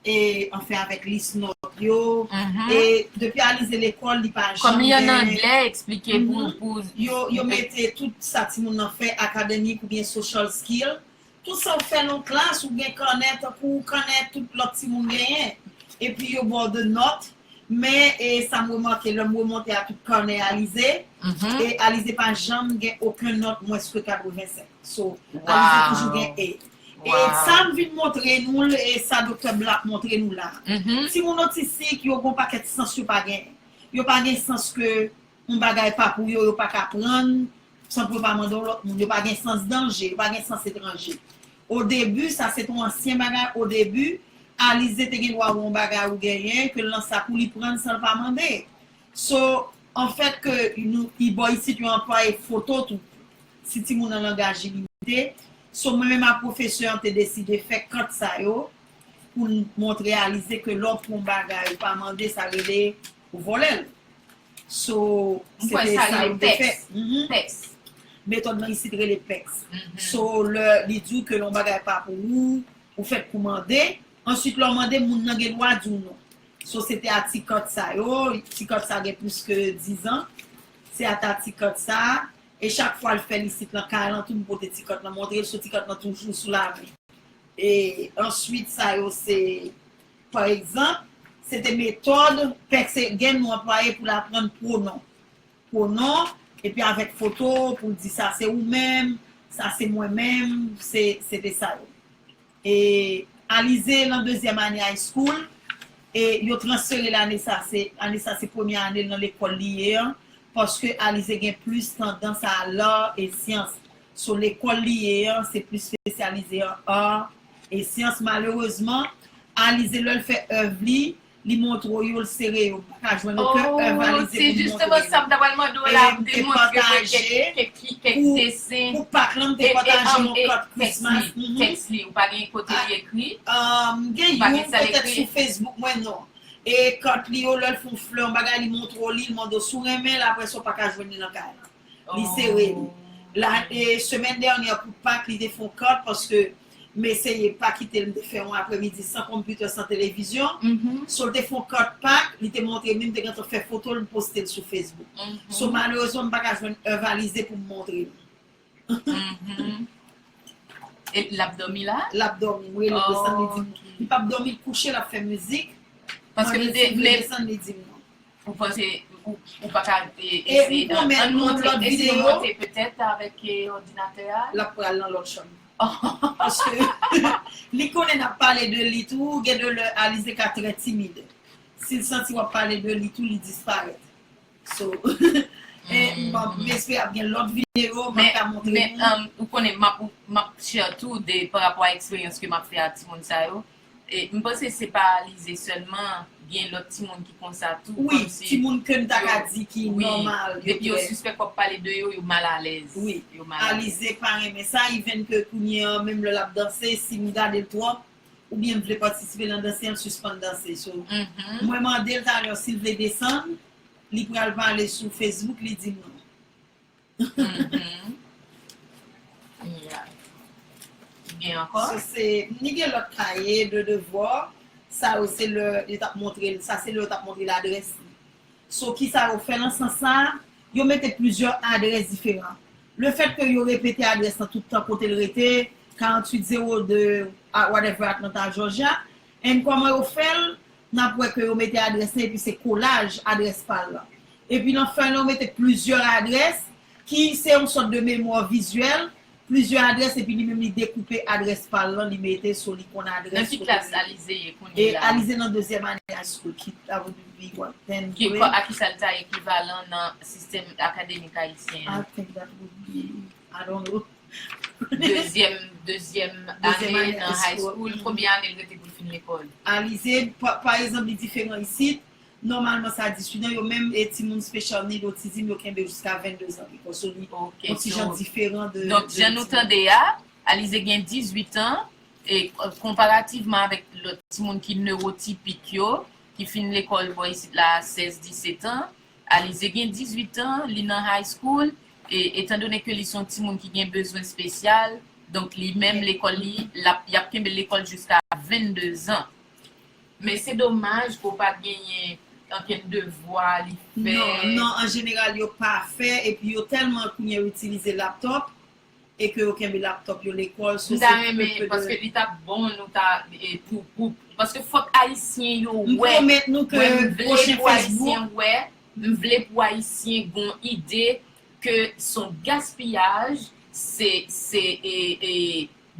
B: e anfen avèk lis nòt yo e depi Alize lekòl li pa janm gen kòm li an anglè
C: eksplike pou pou yo yo mete
B: tout sa timoun nan fè akademik oubyen social skill tout sa ou fè nan klas ou gen kanè tankou kanè tout lòt timoun genyen epi yo ba w de nòt men e sa m remake lè m remonte a tout kanè Alize e Alize pa janm gen oken nòt mwens ke 85 so Alize toujou gen A. E sa m vin montre nou l e sa Doktè Black montre nou la a. Timoun otistik yo gon pakèt sans yo pa gen. Yo pa gen sans ke yon bagay pa pou yo, yo pa ka prann san pou yo pa mande yon lòt moun. Yo pa gen sans danje, yo pa gen sans etranje. Odebi, sa se te yon ansyen bagay, odebi, Alize te gen dwa wè yon bagay ou genyen, ke l nan sak ou li prann san l pa mande. So an fèt ke nou y bò isit yo anplwaye foto tou si timoun nan langaj ilimite. So mwen menm ak pwofesè an te deside fè kant sa yo pou n mont reyalize ke lè w pran yon bagay ou pa mande sa rele ou vòlè l. So se te sa nou te fè. Pèks. Metòd lan isit rele pèks. So lè li di w ke lè yon bagay pa pou ou, ou fèt pou mande. Answit lè w mande moun nan gen dwa di w non. Sosyete a ti kant sa yo, ti kant sa gen plis ke dizan, se ata ti kant sa, e chak fwa l fè l isit lan kay lan tou m pote ti kant lan montre l, so ti kant lan toujou sou lavi. E answit sa yo se pa egzanp, se te metòd pè Seguin nou anplwaye pou l aprann pwonon. Pwonon, epi avèk foto pou l di sa se ou menm, sa se mwen menm, se te sa yo. E Alize lan dezyèm ane high school e yo transfere l ane sa se ane sa se premye ane l nan lekòl li ye an paske Alize gen plis tandans a l'art et sciences so lekòl li ye an se plis spesyalize an art et sciences malerezman Alize lè l fè èv li Li montre w yo, l sere yo, pa ka jwenn okenn èvalize pou l montre yo. Oh, se jisteman sa m ta
C: pral mande w la, m te montre
B: mwen kèk
C: li, kèk desen. Pou Pak lan, m te
B: pataje yon kat Christmas. Tèks li, ou pa
C: gen kote li ekri? M gen youn,
B: petèt sou Facebook mwen, non. E kat li yo, lè l fè yon flè, yon bagay, li montre w li, l mande w si w renmen l, aprè sa ou pa ka jwenn li nan kay lan. li sere li la e semèn dènyè pou pak li te fon kant paske m eseye pa kite l m te fè yon aprè midi san konpitè san televizyon so l te fon kant pak li te montre m li m te gentan fè foto l m poste l sou facebook so malerezman m pa ka jwenn Ervalise pou m montre l
C: e l ap dòmi la? l ap dòmi m rele l desann
B: li di m li p ap dòmi l kouche l ap fè mizik paske m te
C: vle desann
B: li
C: di m
B: non. Ou panse
C: ou pa ka eseye
B: an montre eseye monte
C: petèt avèk òdinatè a. Lap pral nan lòt
B: chanm. Paske li konnen nap pale de li tou gen de lè Alize ka trè timid. Sil santi wap pale de li tou li disparèt. So m espere ap gen lòt videyo mwen ka montre nou. Men
C: ou konnen map share tou de parapò a eksperyans ke map fè ak timoun sa yo. M panse se pa Alize sèlman, gen lòt timoun ki konsa tou, kòmsi yo. Wi, timoun ke m
B: ta ka di ki nòmal. Wi, depi yo sispèk w ap
C: pale de yo, yo mal alèz. Wi, Alize
B: pa renmen sa, ivèn ke kounye an, menm lè l ap danse, si m gade l twòp, oubyen m vle patisipe nan danse an, l sispann danse. So, mwen mande l talè si l vle desann, li pral pale sou Facebook, li di m non. Mhmm
C: yeah Gen ankò? Sa se ni gen lòt
B: kaye de devwa, sa yo se lè yo tap montre l, sa se lè yo tap montre l adrès li. So kisa yo fè nan sans sa a? Yo mete plizyè adrès diferan. Le fèt ke yo repete adrès lan tout tan kote l rete, 4802 whatever Atlanta Georgia, And kòman yo fèl, nap wè ke yo mete adrès lan epi se kolaj adrès pal lan. Epi nan fèy lan yo mete plizyè adrès ki se yon sòt de memwa vizyèl, plizyè adrès epi li menm li dekoupe adrès pal lan li mete so li konn adrès Nan ki klas Alize
C: ye kounye la? Alize nan
B: dezyèm ane high school ki ta vle di li wap tenn grade. A
C: kisa li ta ekivalan nan sistèm akademik ayisyen an? I think that would
B: be, I don't know. Dezyèm dezyèm
C: Dezyèm ane ane nan high school. school. Konbyen ane l rete pou l fin lekòl? Alize, pa,
B: pa egzanp li diferan isit, nòmalman sa di studan yo menm e timoun special need, otizim yo kenbe yo jiska 22 zan lekòl. So li Ok, on ti jan so diferan de donk de jan nou timoun. tande
C: a, Alize gen 18 an e konparativman avèk lòt timoun ki newotipik yo ki fin lekòl bò isit la a 16, 17 an, Alize gen 18 an, li nan high school Etandone ke li se yon timoun ki gen bezwen spesyal, donk li menm lekòl li, y ap kenbe l lekòl jiska 22 zan. Men se domaj ke w pa genyen ankenn devwa li fè. Non, an jeneral yo
B: pa fè, epi yo tèlman kounye yo itilize laptòp, e ke yo kenbe laptòp yo lekòl. M ta renmen, paske
C: li ta bon nou ta, pou, paske fòk Ayisyen yo wè, mwen
B: vle pou Ayisyen
C: wè. M vle pou ayisyen gon ide ke son gaspiyaj se se e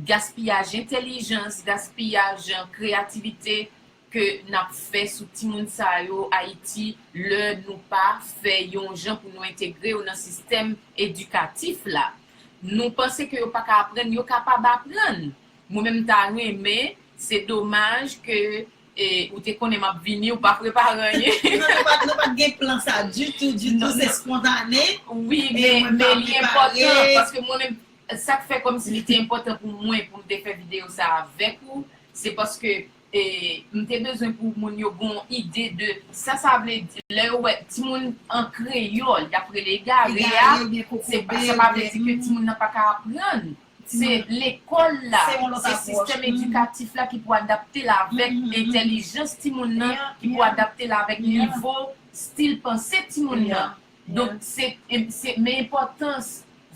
C: gaspiyaj entelijans gaspiyaj kreyativite ke nap fè sou timoun sa yo ayiti lè nou pa fè yon jan pou nou entegre yo nan sistèm edikatif la nou panse ke yo paka aprann yo kapab aprann mwen menm m ta renmen se domaj ke E ou te konnen map vini ou pa prepare anyen. Non nou pat nou pat gen plan
B: sa ditou ditou se spontane. Wi men
C: men li enpòtan paske mwen menm sak fè kòmsi li te enpòtan pou mwen poum te fè video sa avèk ou se paske e m te bezwen pou moun yo gon ide de sa sa vle di lè yo wè timoun an kreyòl yap rele egare a se pa sa pa vle di ke timoun nan paka aprann. Se lekòl la, se sistèm edikatif la ki pou adapte l avèk entèlijans timoun nan, ki pou adapte l avèk nivo stil panse timoun nan. Donk, se men enpòtans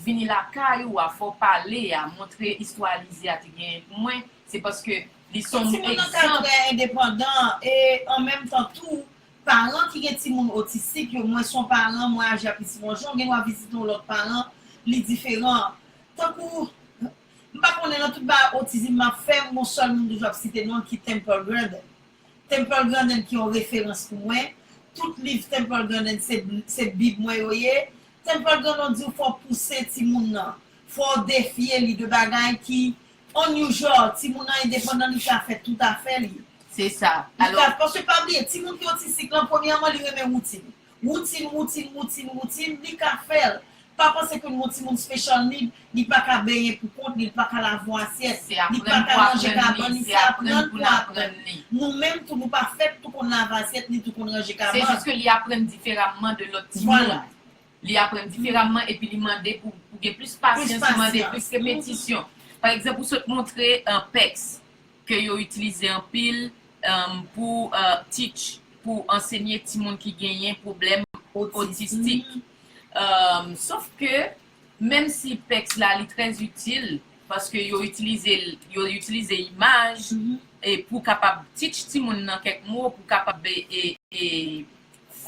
C: vini lakay ou a, fò w pale a, montre istwa Alizé a te genyen pou mwen, se paske li se yon egzanp. Fò timoun nan ka trè
B: endepandan e an menm tan tou, paran ki gen timoun otistik yo, mwen se yon paran, mwen aji ak li ti bon jan, ou gen dwa vizite yon lòt paran, li diferan. Tankou, m pa konnen nan tout bagay otizim m ap fè, m gon sèl moun m toujou ap site non l ki Temple Grandin. Temple Grandin ki yon referans pou mwen, tout liv Temple Grandin se se bib mwen yo ye, Temple Grandon di w fò w pouse timoun nan, fò w defye li de bagay ki unusual, timoun nan endepandan li ka fè tout afè li. Se
C: sa. Li ka, paske pa
B: bliye, timoun
C: ki
B: otistik lan premyèman li renmen woutin. Woutin woutin woutin woutin li ka fèl pa panse ke nou timoun special need li paka benyen pou kont li li paka lave asyèt li paka ranje
C: kabann
B: li
C: se aprann pou
B: aprann li nou menm
C: tou nou pa
B: fèt tou konn lave asyèt ni tou konn ranje kabann se jis ke li aprann
C: diferamman de lòt timoun li
B: aprann
C: diferamman epi li mande pou gen plis pasyans li mande plis repetisyon pa egzanp ou sot montre pèks. ke yo itilize anpil pou teach, pou ansenye timoun ki genyen pwoblèm otistik. Sof ke menm si pèks la li trè itil, paske yo itilize l, yo itilize imaj pou kapab teach timoun nan kèk mo, pou kapab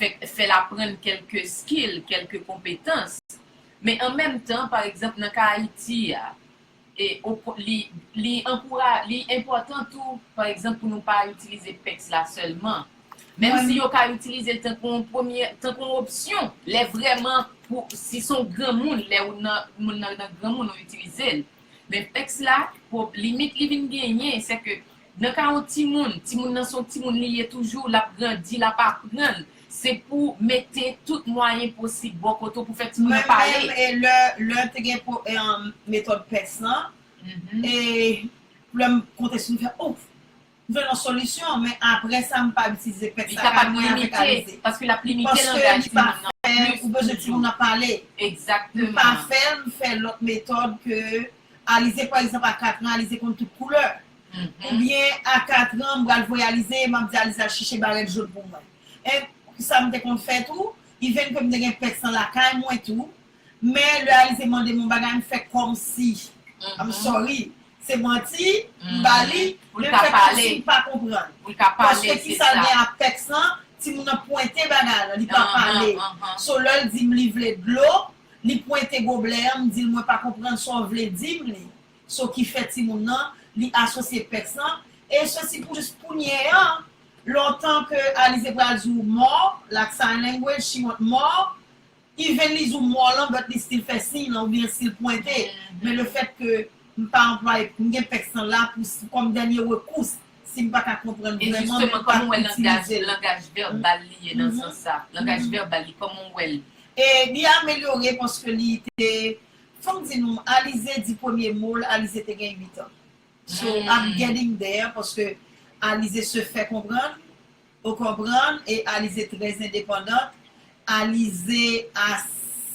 C: fè l aprann kèlke skill, kèlke konpetans. Men an menm tan, pa egzanp nan ka Ayiti a, Li enpòtan tou, pa egzanp, pou nou pa itilize pèks la sèlman, menm si yo ka itilize l tankou yon premye, tankou yon opsyon lè vrèman pou, si se yon granmoun, lè ou nan, moun nan nan granmoun ou itilize l. Men pèks la, limit li vin genyen, sèke Nan ka yon timoun, timoun nan son timoun li ye toujou, lap grandi, lap aprann, se pou mete tout mwayen posib bò kote w pou fè timoun nan pale. Mwen menm e lè
B: te gen metòd pès lan, e lè m konte sou li m fè oh, m jwenn yon solisyon, men aprè sa m pa itilize pès la ak mwen avèk Alize.
C: Paske lap limite langaj timoun nan plis toujou. Ou
B: bezwen timoun nan pale. Egzakteman. M pa
C: fè, m fè
B: lòt metòd ke Alize pa egzanp a 4 an, Alize konn tout koulè. Ou byen a 4 ans m pral voyalize map di Alix achiche barèt jaune pou mwen eh sam te konn fè tou even kem te gen pès lan lakay mwen tou men lè Alize mandem yon bagay m fè kòmsi I'm sorry se manti m ba li men m fè kòmsi m pa
C: konprann
B: paske
C: kisal
B: gen ak
C: pès
B: lan timoun nan pwente bagay lan li pa pale so lèl dim li vle dlo li pwente goblè an m dil mwen pa konprann sa w vle dim li so ki fè timoun nan li asosye pèks lan e sosi pou jis kounye an lontan ke Alize pral di ou mò lak sign language she want mò even li di ou mò lan but li stil fè siy lan oubyen stil pwente men le fèt ke m pa anplwaye m gen pèks lan la pou si kòm dènye rekous si m pa ka konprann vreman men m pa itilize l e jisteman kòman w wè langaj
C: langaj
B: vèbal
C: li ye nan sans sa langaj vèbal li kòman w wè l e li
B: amelyore paske li te Fòm di nou Alize di premye mol Alize te gen 8 an so I'm getting there paske Alize se fè konprann ou konprann e Alize trè endepandant Alize a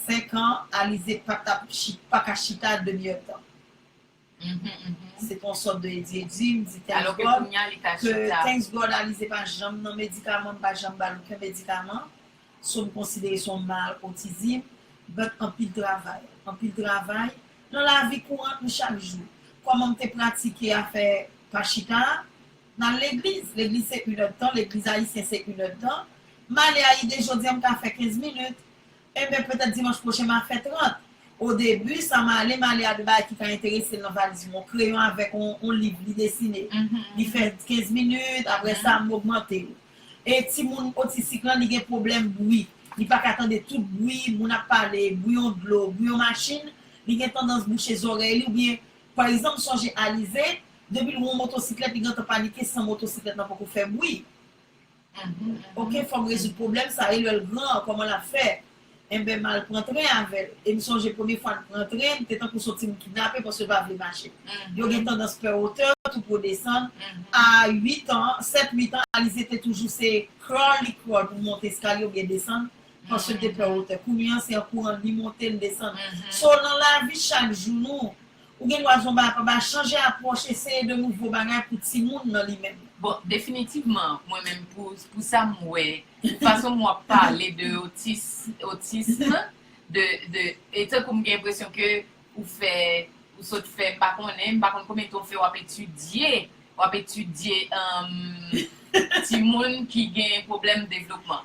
B: 5 an Alize pa tap chita paka chita demi èd tan. Se pa yon sòt de edyedi m di thanks God
C: ke thanks
B: God Alize pa janm nan medikaman m pa janm ba l oken medikaman so m konsidere se yon mal otizim but anpil travay anpil travay nan lavi kourant nou chak jou kòman m te pratike afè pa chita a m al legliz legliz se 1 èdtan legliz ayisyen se 1 èdtan m ale ayide jodi a m ka fè 15 minit Enben, petèt dimanch pwochen m'a fè 30. Odebi, sa m'ale, m'ale a de bagay ki ka enterese l' nan valiz mwen, yon kreyon avèk yon liv li desine. Li fè 15 minit, aprè sa m' ogmante yo. E timoun otistik lan li gen pwoblèm bwi. Li pa ka tande tout bwi, moun ap pale, bwi yon dlo, bwi yon machin, li gen tandans bouche zòrèy li oubyen, pa egzanp m' sonje Alize, depi l' wè yon motosiklèt li gentan panike san motosiklèt lan poko fè bwi. Ok fòm rezoud pwoblèm sa e lèl gran an kòman lap fè enben mal pran tren avèl e m sonje premye fwa n pran tren m te tankou son timoun kidnape paske m pa vle mache yo gen tandans pè otè tou pou w desann a 8 an 7 8 an Alize te toujou se crawl li crawl pou monte eskalye oubyen desann paske l te pè otè kounye an se an kouran li monte li desann so nan lavi chak jou nou Ou gen dwa zonba a paba chanje apwòch eseye de nouvo bagay pou timoun nan li menm. Bon definitivman
C: mwen menm pou pou sam wè pou fason m wap pale de otis otism de de e tankou m gen enpresyon ke ou fè ou sot fè m pa konnen m pa konn konbyen tan w fè wap etidye wap etidye timoun ki gen pwoblèm devlopman.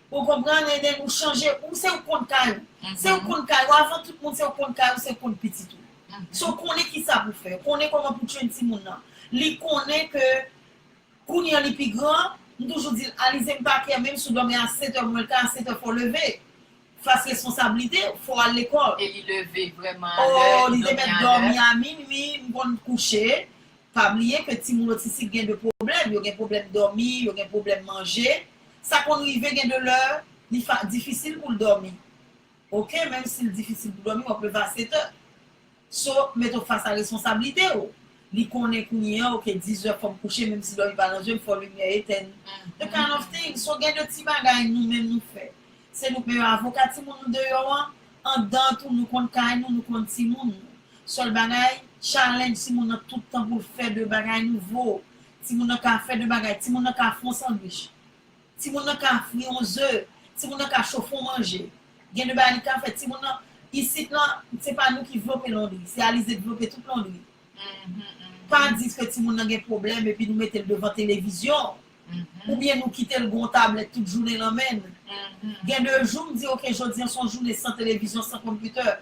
B: Ou konprann Nene ou chanje ou se ou konn kay ou se ou konn kay ou avan tout moun se ou konn kay ou se ou konn pitit ou so ou konnen kisa pou fè ou konnen kòman pou train timoun nan li konnen ke kounye an li pi gran m toujou di l Alize m pa kè menm si w dòmi a 7 è mwen l ka a 7 è fò w leve fas responsablite w fò w al lekòl e li leve
C: vrèman a lè oo li te mèt
B: dòmi a minwi m konn kouche. Pa bliye ke timoun otistik gen de pwoblèm, yo gen pwoblèm dòmi, yo gen pwoblèm manje, sa konn rive gen de lè li difisil pou l dòmi ok, menm si l difisil pou dòmi wap leve a 7 è so mete w fas a responsablite w, li konnen kounye an ok 10 è fò m kouche menm si dòmi pa nan je m fò limyè etèn the kind of thing, so gen de ti bagay nou menm nou fè se nou k meyò avoka timoun nou deyò an, Anndan tou nou konn kay nou, nou konn timoun nou. Sèl bagay, challenge timoun nan tout tan pou l fè de bagay nouvo. Timoun nan ka fè de bagay, timoun nan ka fon sandwich, timoun nan ka fri on ze, timoun nan ka chofe on manje. Gen de bagay li ka fè. Timoun nan, isit lan, se pa nou ki vlope londri, se Alizé k vlope tout londri. Pa di fè timoun nan gen pwoblèm epi nou mete l devan televizyon oubyen nou kite l gen yon tablèt tout jounen nan men l. Gen de jou m di ok jodi an se yon jounen san televizyon, san konpitè.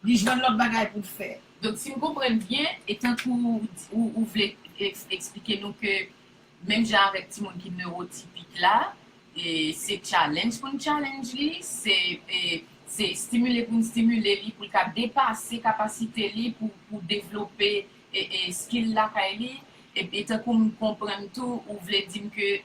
B: Li jwenn lòt bagay pou l fè. Donk si m konprann
C: byen, e tankou ou vle eksplike nou ke Menm jan avèk timoun ki newotipik la, se challenge pou n challenge li, se stimile pou n stimile li pou l ka depase kapasite li pou devlope skill lakay li. E tankou m konprann tou ou vle di m ke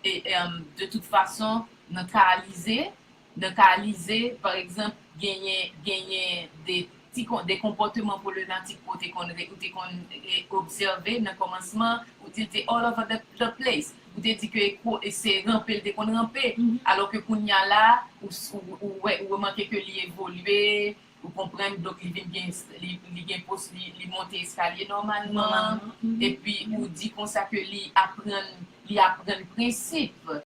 C: de tout fason nan ka Alizé Nan ka Lize, pa egzanp, genyen genyen de ti kon de konpòteman pwolenatik ou te konn re ou te konn e obsève nan kòmansman ou di l te all over the the place. Ou te di ke kwo e se ranpe l te konn ranpe. Alò ke kounye a la a, ou s ou ou wè ou remake ke li evolye, ou konprann, donk li vin gen es li li gen pos li li monte eskalye nòmalman. Epi ou di konsa ke li aprann li aprann prensip.